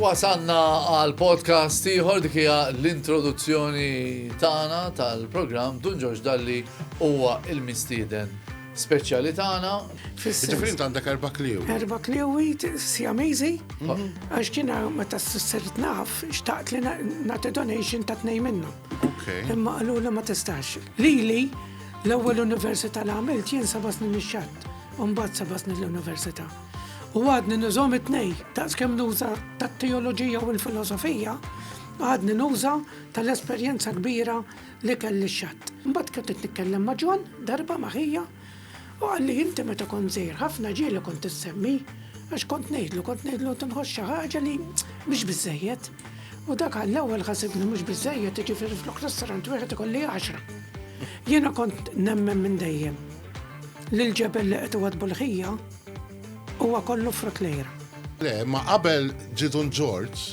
Wasanna għal podcast ieħor dik hija l-introduzzjoni tagħna tal-programm Dun Ġorġ Dalli huwa il-mistieden speċjali tagħna. Ġifieri int għandek erba' kliewi. Erba' kliewi sjamiżi għax kien meta s-sirt naf xtaqt li nagħti donation ta' tnejn minnhom. Imma qalu li ma tistax. Lili l-ewwel università li għamilt jien seba' snin ix-xatt, u mbagħad seba' snin l-università. U għadni nużhom it-tnej, daqs kemm nuża tat-teoloġija u l-filosofija, għadni nuża tal-esperjenza kbira l-ikel lix-xatt. Imbagħad kont qed nitkellem ma' John darba ma' ħija u qalli inti meta kont żgħir ħafna ġieli kont issemmi għax kont ngħidlu kont ngħidlu inti nħoss xi ħaġa li mhix biżżejjed. U dak għall-ewwel ħasibni mhux biżżejjed jiġifieri flok restaurant wieħed ikolli għaxra. Jiena kont nemmen minn dejjem li l-ġebel li qed iwaddbu l-ħija huwa kollu frott lejra. Le, ma qabel ġie Dun Ġorġ,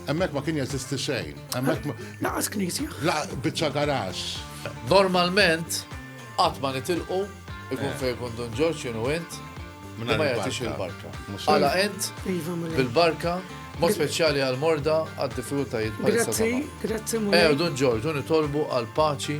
Hemmhekk ma kien jeżisti xejn. Hemmhekk Laqas knisja. Laqas biċċa garax. Normalment qatt ma nitilqu ikun eh. fejn kun Dun Ġorġ jenu int ma jagħtix il-barka. Għala int iva, bil-barka Mod speċjali għal morda għad diffikultajiet. Grazzi, grazzi. Eh, Dun Ġorġ, nitolbu għal paċi